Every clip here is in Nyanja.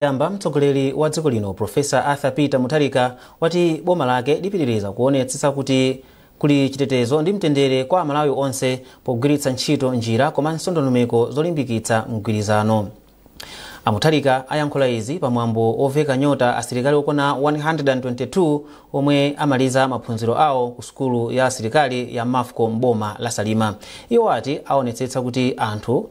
yamba mtsogoleri wa dziko lino profesa arthur peter mutharika wati boma lake lipitiriza kuonetsetsa kuti kuli chitetezo ndi mtendere kwa amalawi onse pogwiritsa ntchito njira komanso ndondomeko zolimbikitsa mgwirizano amutharika ayankhula izi pamwambo woveka nyota asilikali okwana 122 omwe amaliza maphunziro awo ku sukulu ya asilikali ya mafco mboma la salima iwo ati aonetsetsa kuti anthu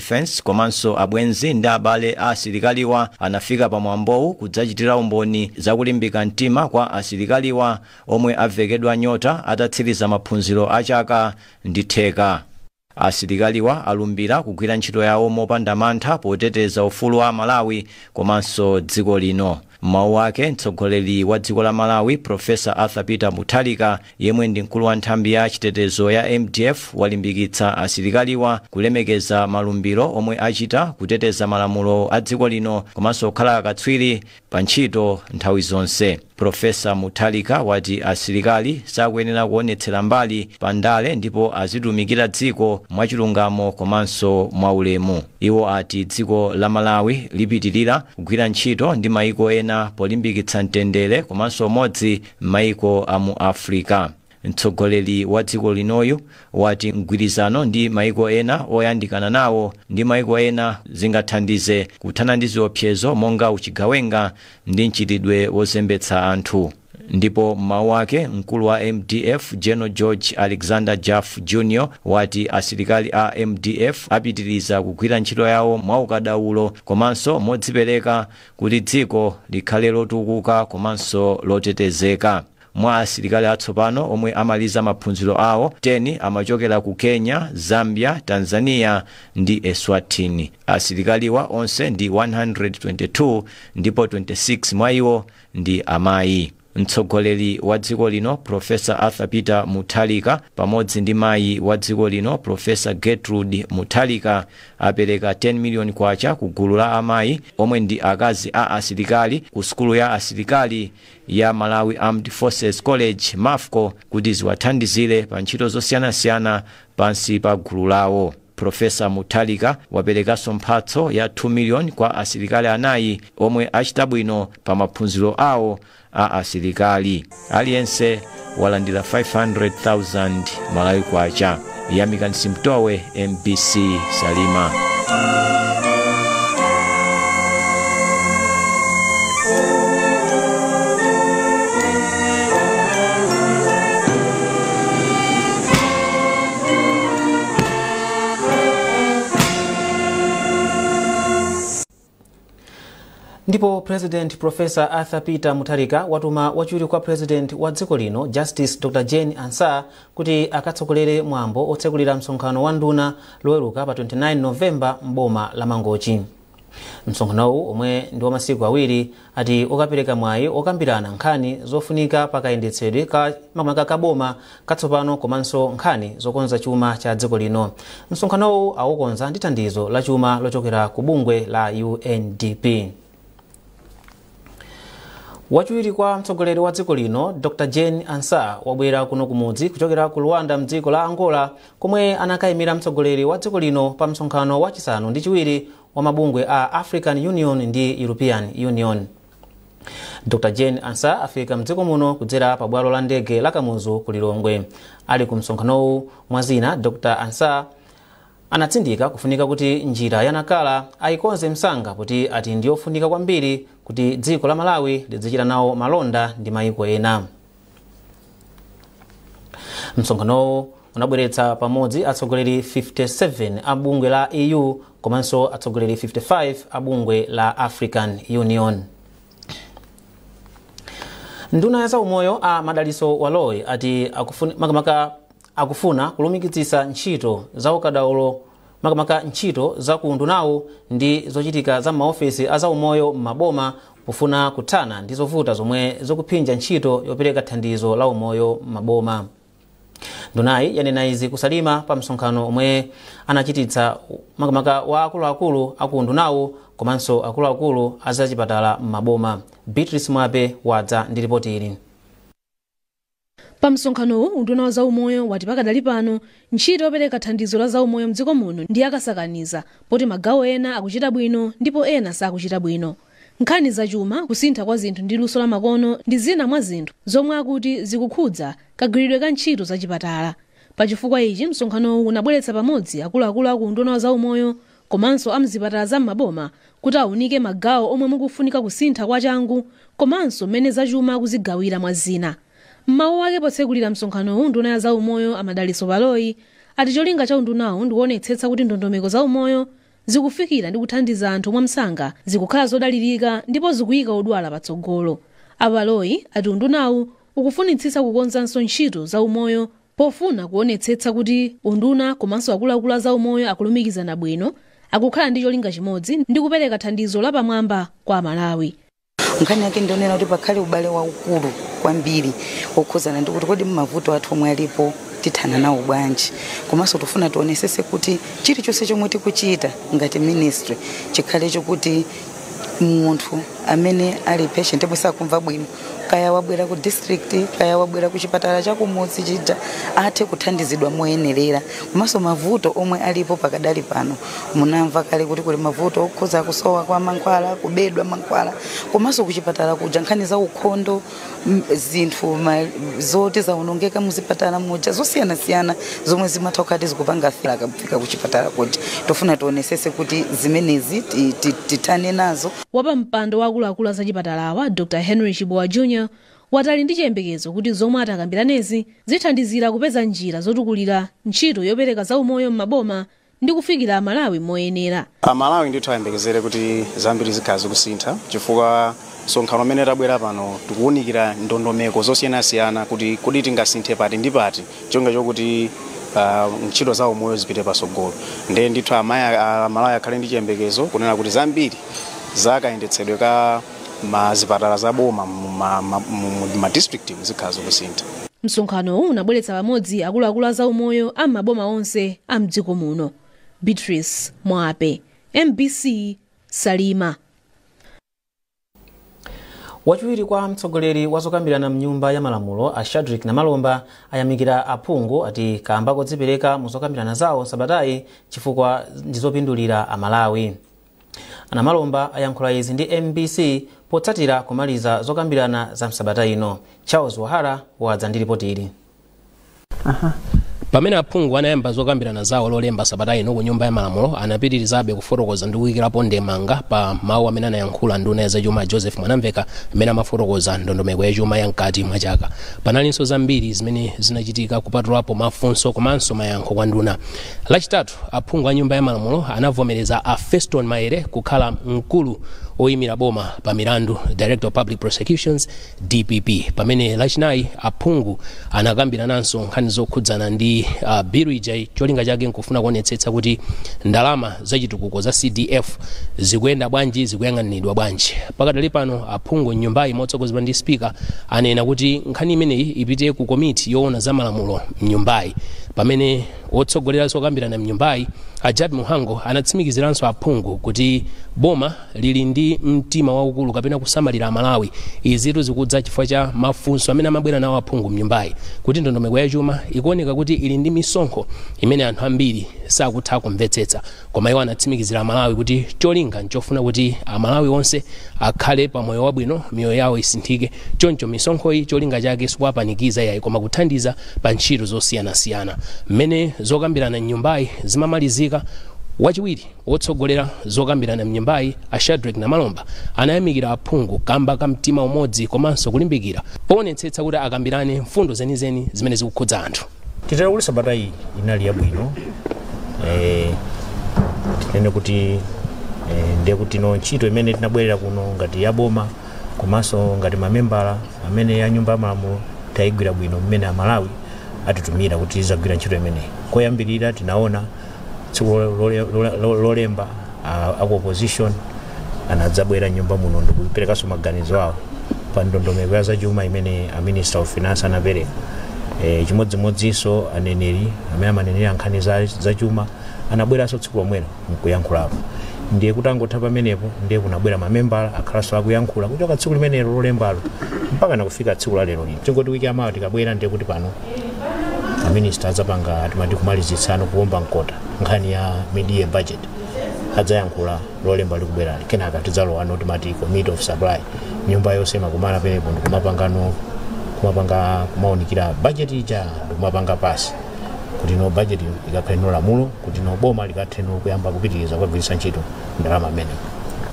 Defence komanso abwenzi ndi abale a asilikaliwa anafika pa mwambowu kudzachitira umboni za kulimbika mtima kwa asilikaliwa omwe avekedwa nyota atatsiriza maphunziro a chaka ndi theka. Asilikaliwa alumbira kugwira ntchito yawo mopanda mantha poteteza ufulu wa aMalawi komanso dziko lino. M'mawu ake, mtsogoleri wa dziko la Malawi, Professor Arthur Peter Mutharika, yemwe ndi mkulu wa nthambi ya chitetezo ya mdf, walimbikitsa asilikaliwa kulemekeza malumbiro omwe achita, kuteteza malamulo a dziko lino komanso kukhala akatswiri pa ntchito nthawi zonse. Professor Mutharika wati asilikali sakuyenera kuonetsera mbali pa ndale ndipo azitumikira dziko mwachilungamo komanso mwaulemu. Iwo ati dziko la Malawi lipitirira kugwira ntchito ndi maiko ena polimbikitsa mtendere komanso umodzi m'maiko a mu Africa. Mtsogoleri wa dziko linoyu wati mgwirizano ndi maiko ena oyandikana nawo ndi maiko ena zingathandize kuthana ndi ziopsezo monga uchigawenga ndi mchitidwe wozembetsa anthu. Ndipo m'mawu ake, mkulu wa mdf General George Alexander Jaffu Jr wati asilikali a mdf apitiriza kugwira ntchito yawo mwaukadaulo komanso modzipereka kuti dziko likhale lotukuka komanso lotetezeka. Mwa asilikali atsopano omwe amaliza maphunziro awo, 10 amachokera ku Kenya, Zambia, Tanzania ndi Eswatini. Asilikaliwa onse ndi 122 ndipo 26 mwa iwo ndi amayi. Mtsogoleri wa dziko lino Professor Arthur Peter Mutharika pamodzi ndi mayi wa dziko lino Professor Gertrude Mutharika apereka 10 million kwacha ku gulu la amayi omwe ndi akazi a asilikali ku sukulu ya asilikali ya Malawi Armed Forces College MAFCO kuti ziwathandizire pa ntchito zosiyanasiyana pansi pa gulu lawo. Professor Mutharika waperekanso mphatso ya 2 million kwa asilikali anayi omwe achita bwino pa maphunziro awo a asilikali. Aliyense walandira 500,000 Malawi Kwacha. Yamikani Simutowe, mbc Salima. ndipo president profesa arthur peter mutharika watuma wachiwiri kwa president wa dziko lino justice dr jane ansah kuti akatsogolere mwambo otsekulira msonkhano wa nduna loweruka pa 29 novemba m'boma la mangochi msonkhanowu omwe ndi wa masiku awiri ati ukapereka mwayi okambirana nkhani zofunika pa kayendetsedwe ka makamaka ka boma katsopano komanso nkhani zokonza chuma cha dziko lino msonkhanowu awukonza ndi thandizo la chuma lochokera ku bungwe la undp wachiwiri kwa mtsogoleri wa dziko lino dr jane ansah wabwera kuno kumudzi kuchokera ku luanda mdziko la angola komwe anakayimira mtsogoleri wa dziko lino pa msonkhano wachisanu ndi chiwiri wa mabungwe a african union ndi european union dr jane ansa afika mdziko muno kudzera pa bwalo la ndege la kamuzu ku lilongwe ali ku msonkhanowu mwa zina dr ansa Anatsindika kufunika kuti njira ya Nacala ayikonze msanga poti ati ndiyofunika kwambiri kuti dziko la Malawi lidzichita nawo malonda ndi mayiko ena. Msonkhanowu unabweretsa pamodzi atsogoleri 57 a bungwe la EU komanso atsogoleri 55 a bungwe la African Union. Nduna ya zaumoyo a Madalitso Baloyi ati akufuna akufuna kulumikizitsa ntchito za ukadaulo makamaka ntchito za ku undunawu ndi zochitika za m'maofesi a zaumoyo m'maboma pofuna kuthana ndi zovuta zomwe zikuphinja ntchito yopereka thandizo la umoyo m'maboma ndunayi yanena izi ku Salima pa msonkhano omwe anachititsa makamaka wa akuluakulu aku undunawu komanso akuluakulu a zachipatala m'maboma beatrice mwape wadza ndi ripoti ili Pa msonkhanowu, unduna wa zaumoyo wati pakadali pano ntchito yopereka thandizo la zaumoyo mdziko muno ndi yakasakaniza poti magawo ena akuchita bwino ndipo ena sakuchita bwino. Nkhani za chuma, kusintha kwa zinthu ndi luso la makono ndi zina mwa zinthu zomwe akuti zikukhudza kagwiridwe ka ntchito za chipatala. Pa chifukwa ichi, msonkhanowu unabweretsa pamodzi akuluakulu a ku unduna wa zaumoyo komanso amzipatala za m'maboma kuti aunike magawo omwe mukufunika kusintha kwa changu komanso m'mene zachuma akuzigawira mwa zina. M'mawu ake potsekulira msonkhanowu nduna ya zaumoyo a Madalitso Baloyi ati cholinga cha undunawu ndikuonetsetsa kuti ndondomeko za umoyo zikufikira ndi kuthandiza anthu mwa msanga, zikukhala zodalirika ndipo zikuyika odwala patsogolo. A Baloyi ati undunawu ukufunitsitsa kukonzanso ntchito za umoyo Pofuna kuonetsetsa kuti unduna komanso akuluakulu a zaumoyo akulumikizana bwino, akukhala ndi cholinga chimodzi ndi kupereka thandizo lapamwamba kwa Amalawi. Nkhani yake ndi yoonera kuti pakhale ubale waukulu kwambiri wokhudzana ndi kuti kodi mavuto athu omwe alipo tithana nawo bwanji, komanso tofuna tionesese kuti chilichonse chomwe tikuchita ngati ministry chikhale chokuti munthu amene ali patient yemwe sakumva bwino kaya wabwera ku district kaya wabwera ku chipatala cha kumudzi chija athe kuthandizidwa moyenerera komanso mavuto omwe alipo pakadali pano munamva kale kuti kuli mavuto okhuza kusowa kwa mankhwala kubedwa mankhwala komanso ku chipatala kuja nkhani za ukhondo m- zinthu ma- zoti zaonongeka muzipatala muja zosiyanasiyana zomwe zimatha kukhala zikupanga fila akafika kuchipatala kuti tofuna tionesese kuti zimenezi ti- ti- tithane nazo wapampando wa akuluakulu a zachipatalawa dr henry chibowa jr wati ali ndi chiyembekezo kuti zomwe atakambiranezi zithandizira kupeza njira zotukulira ntchito yopereka zaumoyo m'maboma ndi kufikira Amalawi moyenera. Amalawi ndithu ayembekezere kuti zambiri zikhala zikusintha chifukwa msonkhano umene tabwera pano tikuwunikira ndondomeko zosiyanasiyana kuti kodi tingasinthe pati ndi pati cholinga chokuti ah, ntchito za umoyo zipite patsogolo ndiye ndithu amaya- ah, amalawi akhale ndi chiyembekezo kunena kuti zambiri za kayendetsedwe ka ma zipatala za boma mu ma- ma- mu- mu- ma district zikhala zikusintha msonkhanowu unabweretsa pamodzi akuluakulu a zaumoyo a m'maboma onse a mdziko muno beatrice mwape mbc salima wachiwiri kwa mtsogoleri wa zokambirana mnyumba ya malamulo a shadrick namalomba ayamikira aphungu ati kamba kodzipereka mu zokambirana zawo sabatayi chifukwa ndizopindulira amalawi A Namalomba ayankhula izi ndi mbc potsatira kumaliza zokambirana za msabata ino. Charles Wahara wadza ndi lipoti ili. pamene aphungu anayamba zokambirana zawo lolemba sabata ino ku nyumba ya malamulo anapitirizabe kufotokoza ndi kuyikirapo ndemanga pa mawu amene anayankhula nduna ya zachuma joseph mwanamveka amene amafotokoza ndondomeko ya chuma ya mkati mwa chaka panalinso zambiri zimene zinachitika kupatulapo mafunso komanso mayankho kwa nduna lachitatu Lachitatu, aphungu a Nyumba ya Malamulo anavomereza a Fostino Maele kukhala mkulu woimira boma pa milandu, Director of Public Prosecutions, dpp, pamene Lachinayi aphungu anakambirananso nkhani zokhudzana ndi uh, bilu ija cholinga chake nkufuna kuonetsetsa kuti ndalama zachitukuko za CDF zikuyenda bwanji, zikuyang'aniridwa bwanji. Pakadali pano aphungu m'nyumbayi motsogozedwa ndi spika anena kuti nkhani imeneyi ipite ku komiti yoona za malamulo m'nyumbayi pamene Wotsogolera zokambirana mnyumbayi, a Jappie Mhango anatsimikiziranso aphungu kuti boma lili ndi mtima waukulu kapena kusamalira aMalawi. Izitu zikudza chifukwa cha mafunso amene amabwera nawo aphungu mnyumbayi kuti ndondomeko ya chuma ikuoneka kuti ili ndi misonkho imene anthu ambiri sakutha kumvetsetsa. Koma iwo anatsimikizira Amalawi kuti cholinga n'chofuna kuti Amalawi onse akhale pa moyo wabwino, miyoyo yawo isinthike. Choncho misonkhoyi cholinga chake sikuwapanikiza iyayi koma kuthandiza pa ntchito zosiyanasiyana. Mmene zokambirana m'nyumbayi zimamalizika, wachiwiri wotsogolera zokambirana m'nyumbayi a Shadreck Namalomba anayamikira aphungu kamba ka mtima umodzi komanso kulimbikira poonetsetsa kuti akambirane mfundo zenizeni zimene zikukhudza anthu. titero kuti sabata iyi inali yabwino eh, tinene kuti eh, ndiye kuti tsono ntchito imene tinabwerera kuno ngati yaboma komanso ngati mamembala amene ya nyumba ya malamulo tayigwira bwino mmene amalawi atitumira kuti tizagwira ntchito imeneyi koyambirira tinaona tsiku lo- lole- lole- lo- lolemba a- aku opposition anadzabwera mnyumba muno ndikuperekanso maganizo awo pa ndondomeko ya zachuma imene a minister of finance anapereka e, chimodzimodzinso aneneri amene amanenera nkhani za, za chuma anabweranso tsiku lomwelo nkuyankhulapo ndiye kutangotha pamenepo ndiye kunabwera mamembala akhalanso akuyankhula kuchoka tsiku limenelo lolembalo mpaka nakufika tsiku la lero lino tingoti wiki yamawa tikabwera ndiye kuti pano aminista adzapanga timati kumalizitsano kuomba mkota nkhani ya mid-year budget adzayankhula lolemba likubwerali kenaka tidzalowano timati committee of supply nyumba yonse imakumana pamenepo ndikumapangano kumapanga kumaunikira budget ija ndikumapanga pasi kuti no budget ikakhale no lamulo kuti no boma likathe no kuyamba kupitiriza kugwiritsa ntchito ndalama imeneyo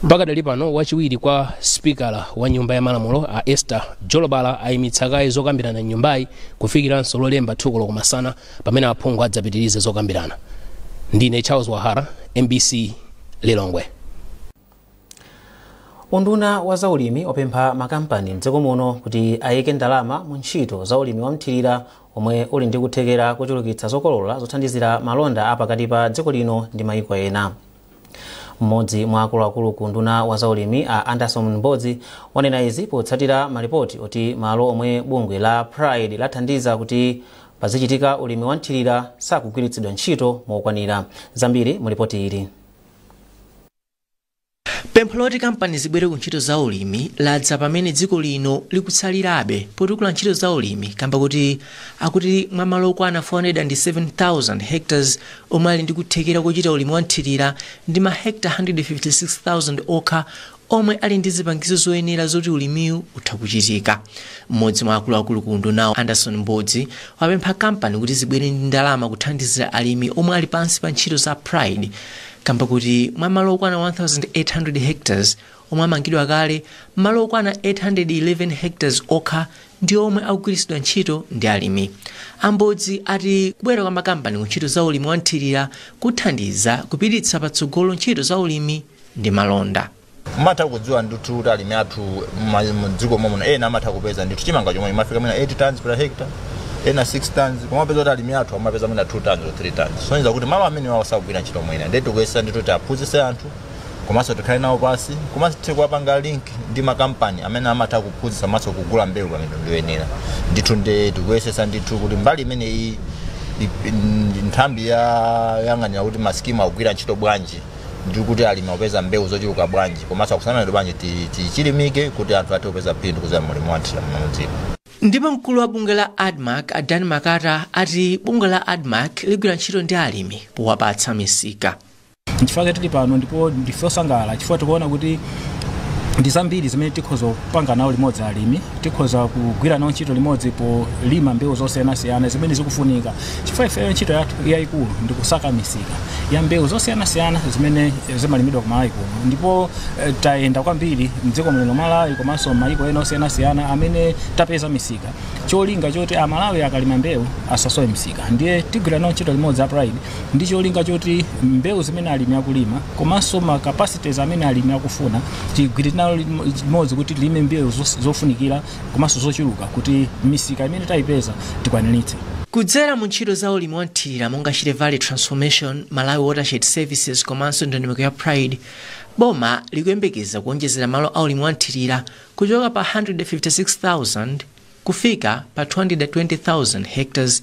pakadali pano wachiwiri kwa sipikala wa nyumba ya malamulo a esther Jolobala ayimitsa kaye zokambirana m'nyumbayi kufikiranso Lolemba 2 koloko masana pamene aphungu adzapitirize zokambirana. Ndine Charles Wahara, mbc, Lilongwe. Unduna wa zaulimi wapempha makampani mdziko muno kuti ayike ndalama mu ntchito za ulimi wa mthirira omwe uli ndi kuthekera kochulukitsa zokolola zothandizira malonda a pakati pa dziko lino ndi mayiko ena. Mmodzi mwa akuluakulu ku unduna wa zaulimi a Anderson Mbozi wanena izi potsatira malipoti oti malo omwe bungwe la Pride lathandiza kuti pazichitika ulimi wa mthirira sakugwiritsidwa ntchito mokwanira. Zambiri mu lipoti ili. Pempho loti kampani zibwere ku ntchito za ulimi ladza pamene dziko lino likutsalirabe potukula ntchito za ulimi kamba kuti akuti mwa malo okwana 407,000 hectares omwe ali ndi kuthekera kochita ulimi wa mthirira ndi ma hectare 156,000 okha omwe ali ndi zipangizo zoyenera zoti ulimiwu utha kuchitika. M'modzi mwa akuluakulu ku undunawu Anderson Mbodzi wapempha kampani kuti zibwere ndi ndalama kuthandizira alimi omwe ali pansi pa ntchito za Pride kamba kuti mwa malo okwana 1,800 hectares omwe amangidwa kale, malo okwana 811 hectares okha ndi omwe akugwiritsidwa ntchito ndi alimi. A Mbodzi ati kubwera kwa makampani ku ntchito za ulimi wa mthirira kuthandiza kupititsa patsogolo ntchito za ulimi ndi malonda. mmatha kudziwa ndithu kuti alimi athu mma- mdziko momuno ena amatha kupeza ndithu chimanga chomwe imafika mwina 8 tons per hectare ena 6 tons koma mupeza kuti alimi athu amapeza mwina 2 tons or 3 tons kusonyeza kuti malo amenewawo sagwira ntchito mwina ndiye tikuyesa ndithu kuti aphunzitse anthu komanso tikhale nawo pasi komanso tithe kuwapanga link ndi makampani amene amatha kuphunzitsa komanso kugula mbewu pa mitengo yoyenera ndithu nde tikuyesetsa ndithu kuti mbali imeneyi i- ndi nthambi yoyang'anira kuti masikimu akugwira ntchito bwanji ndi kuti alimi akupeza mbewu zochuluka bwanji komanso akusamalidwa bwanji ti- tichilimike kuti anthu athe kupeza phindu kudzera mu ulimi wamthirira mdziko ndipo mkulu wa bungwe la admarc a dan makata ati bungwe la admarc ligwira ntchito ndi alimi powapatsa misika nchifukwa chake tili pano ndipo ndife osangalala chifukwa tikuona kuti ndi zambiri zimene tikhoza kupanga nawo limodzi alimi tikhoza kugwira nawo ntchito limodzi polima mbewu zosiyanasiyana zimene zikufunika chifukwa ifeyo ntchito yathu yayikulu ndi kusaka misika ya mbewu zosiyanasiyana zimene eh, zimalimidwa ku malawi kuno ndipo eh, tayenda kwambiri mdziko muno malawi komanso mayiko ena osiyanasiyana amene tapeza misika cholinga choti amalawi akalima mbewu asasowe misika ndiye tigwira nawo ntchito limodzi a pride ndi cholinga choti mbewu zimene alimi akulima komanso ma capacities amene alimi akufuna tigwire nawo limo- limodzi kuti tilime mbewu zos- zofunikira komanso zochuluka kuti misika imene tayipeza tikwaniritse kudzera mu ntchito za ulimi wa mthirira monga shire valley transformation malawi watershed services komanso ndondomeko ya pride boma likuyembekeza kuonjezera malo a ulimi wa mthirira kuchoka pa 156000 kufika pa 220000 hectares